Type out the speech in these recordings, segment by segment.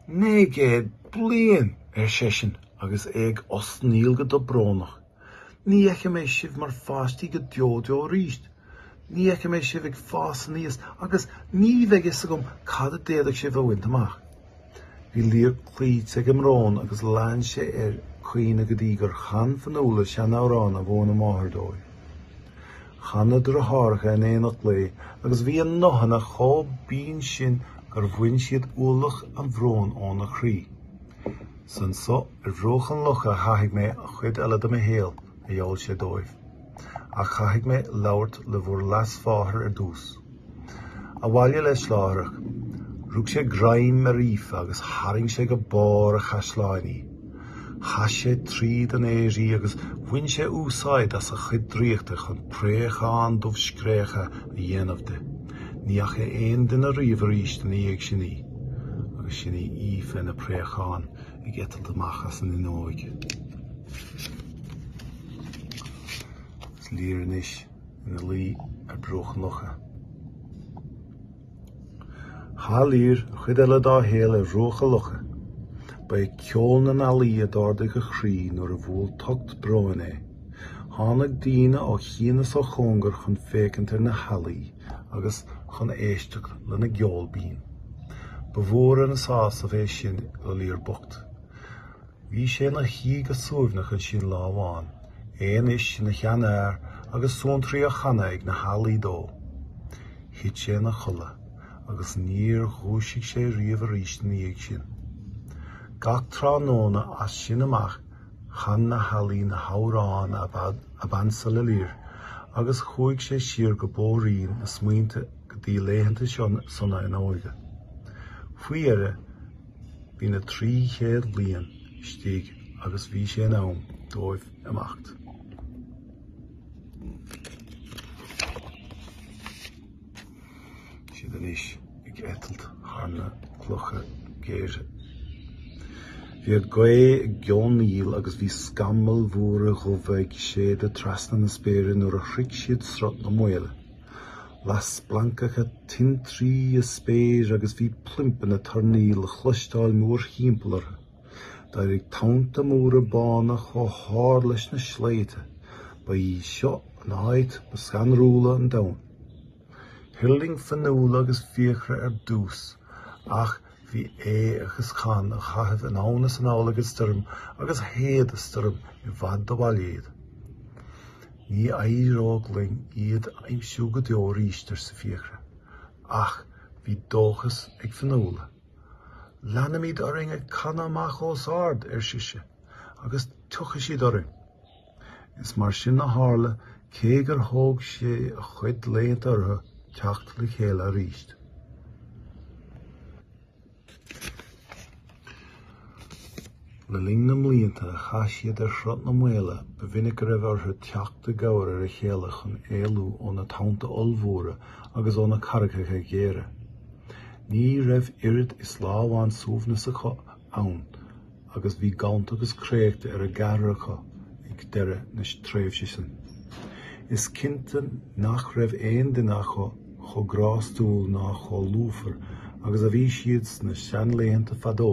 'Naoi gcéad bliain! ar seisean agus é ag osnaíl go dobrónach. 'Ní fheicfidh mé sibh mar pháistí go deo deo arís. Ní fheicfidh mé sibh ag fás aníos agus ní bheidh fhios agam cad a d'fhéadfadh sibh a bhaint amach. Bhí Lir cloíte ag an mbrón agus lean sé air caoineadh go dtí gur chan Fionnuala seanamhrán a mhúin a máthair dóibh. Chan na deartháireacha in éineacht léi agus bhí a nguthanna chomh binn sin gur bhain siad ualach an bhróin óna chroí. Is anso ar bhruach an locha a chaithfidh mé an chuid eile dem shaol, a gheall sé dóibh. Ach caithfidh mé labhairt le bhur leasmháthair ar dtús. Abhaile leis láithreach. Rug sé greim ar Aoife agus tharraing sé go barr an chaisleáin í. Chaith sé tríd an aer í agus bhain sé úsáid as a chuid draíochta chun préachán dubh scréachach a dhéanamh di. Ní fhaca aon duine riamh arís ina dhiaidh sin í. Agus sin í Aoife ina préachán ag eitilt amach as an fhuinneoig. Is é Lir anois. ina luí ar bhruach an locha. Chaith Lir an chuid eile dá shaol ar bhruach an locha. Ba é ceol na n-ealaí a d'ardaigh a chroí nuair a bhuail tocht bróin é. Tháinig daoine ó chian is ó chóngar chun féachaint ar na healaí agus chun éisteacht lena gceol binn. Ba mhór an sásamh é sin do Lir bocht. Bhí sé ina shuí go suaimhneach ansin lá amháin, é anois ina sheanfhear agus suantraí á chanadh ag na healaí dó. Thit sé ina chodladh agus níor dhúisigh sé riamh arís ina dhiaidh sin. Gach tráthnóna as sin amach chan na healaí na hamhráin ab ansa le Lir agus chuaigh siad siar bóithrín na smaointe go dtí laethanta sona a n-óige. Faoi dheireadh, Bhí na trí chéad bliain istigh agus bhí sé in am dóibh imeacht. Seo iad anois ag eitilt thar na clocha géire. Bhí an ghaoth ag geonaíl agus bhí scamaill mhóra dhubha ag séideadh trasna na spéire nuair a shroich siad Sruth na Maoile. Las splancacha tintrí an spéir agus bhí plimp na toirní le cloisteáil mórthimpeall orthu. D'éirigh tonnta móra bána chomh hard leis na sléibhte. Ba í seo an áit ba scanrúla ar domhan. Thuirling Fionnuala agus Fiachra ar dtús, ach Bhí Aodh agus Conn á gcaitheamh anonn is anall ag an stoirm agus shéid an stoirm i bhfad ó bhaile iad. Ní éireoidh linn iad a aimsiú go deo arís, arsa Fiachra. Ach bhí dóchas ag Fionnuala. Leanfaimid orainn ag canadh amach os ard, ar sise, agus tiocfaidh siad orainn. Is mar sin a tharla, cé gur thóg sé an-chuid laethanta orthu teacht le chéile arís. Le linn na mblianta a chaith siad ar Shruth na Maoile, ba mhinic go raibh orthu teacht i gcabhair ar a chéile chun éalú ó na tonnta ollmhóra agus ó na carraigeacha géara. Ní raibh oiread is lá amháin suaimhnis acu ann agus bhí gonta agus créachta ar an gceathrar acu ag deireadh na tréimhse sin. Is cinnte nach raibh aon duine acu chomh grástúil ná chomh lúfar agus a bhí siad sna seanlaethanta fadó.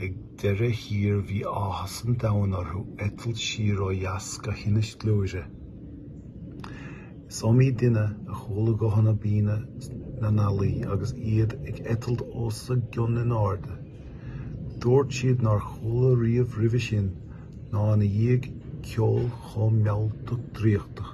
Ag deireadh thiar bhí áthas an domhain orthu eitilt siar ó dheas go hInis Gluaire. Is iomaí duine a chuala guthanna binne na n-ealaí agus iad ag eitilt os a gcionn in airde. Dúirt siad nár chuala riamh roimhe sin ná ina dhiaidh ceol chomh mealltach draíochtach.